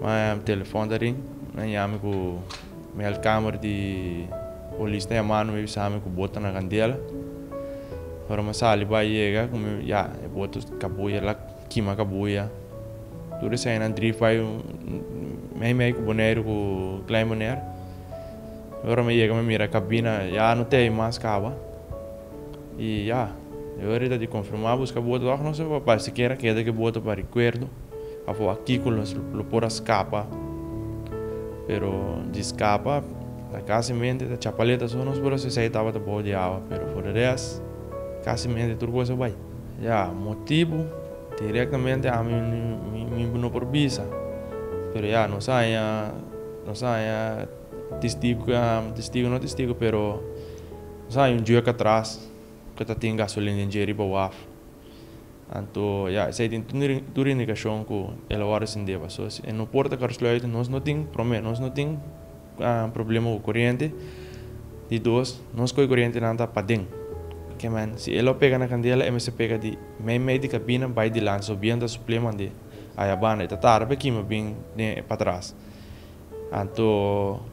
Ma telefon ta ring, nan yami ku mi al kamer di polis ta yamami, mi bisa mi ku bo ta na kandela. Ora mi a sali bai yega ku mi ya e boto kabuya la kima kabuya. Tur esei nan drif bai mei mei ku Boneiru ku Klein Bonaire. Ora mi a yega mi a mira kabina ya no tei mas kaba. I ya, e ora ta di konfirmá buska boto òf nos lo por bai sikiera keda ku e boto pa rikuerdo òf artíkulo nos lo por a skapa. Pero di skapa ta kasi mente ta chapaleta so nos por a sesei tabata bou di awa, pero for di rest kasi mente tur kos a bai. Ya, motibu direktamente ami mi no por bisa, pero ya nos a haña nos a haña testigu, testigu no testigu pero. Nos a haña un juek atras ku e ta tin gasolina den dje riba waf. Anto ya, esei tin tur indikashon ku el a wòrdu sindeba. So si e no por ta karslùiten, nos no tin, promé, nos no tin problema ku koriente. Di dos, nos ku e korientenan ta paden. Ke men, si e lo pega na kandela, e mester pega di mei mei di kabina bai dilanti. So bientu a supl'é mande ayabanda. E ta tarda pa e kima bin den e patras. Anto.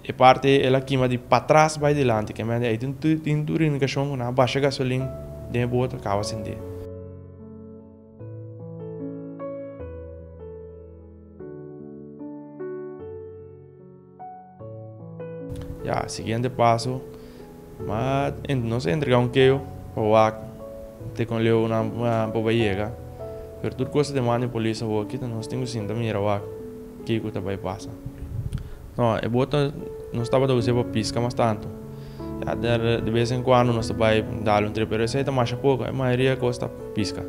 E parti ei el a kima di patras bai dilanti, kèmende ei tin tin tur indikashon ku nan a basha gasolin den e boot a kaba sindé. Ya, siguiente paso. Ma ente nos a entrega un keo pa wak te kon leo nan por bai yega. Pero tur kos ta demanda e polis awor kita nos tin ku sinta mira wak kiko ta bai pasa. No, e bota nos tabata usa pa piska mas tantu. Ya de bes en kuando nos ta bai dal un trep pero esei ta masha poko. E mayoria kos ta piska.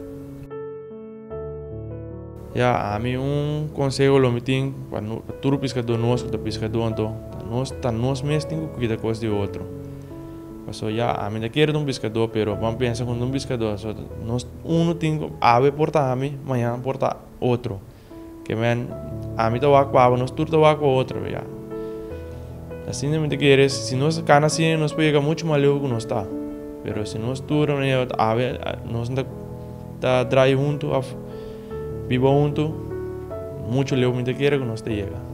Ya, ami un konseho lo mi tin pa tur piskadó nos ku ta piskadó anto, ta nos ta nos mes tin ku kuida kos di otro. Paso ya, ami ta kere ta un piskadó pero ban pensa ku no ta un piskadó, so nos unu tin ku awe por ta ami, mañan por ta otro. Ke men, ami ta wak ku awe, nos tur ta wak ku otro, be ya. Asin ta minte kere, si nos a kana asina nos por yega muchu mas leu ku nos ta. Pero si nos tur a manera ta awe, nos no ta drai huntu of biba huntu, muchu leu minte kere ku nos ta yega.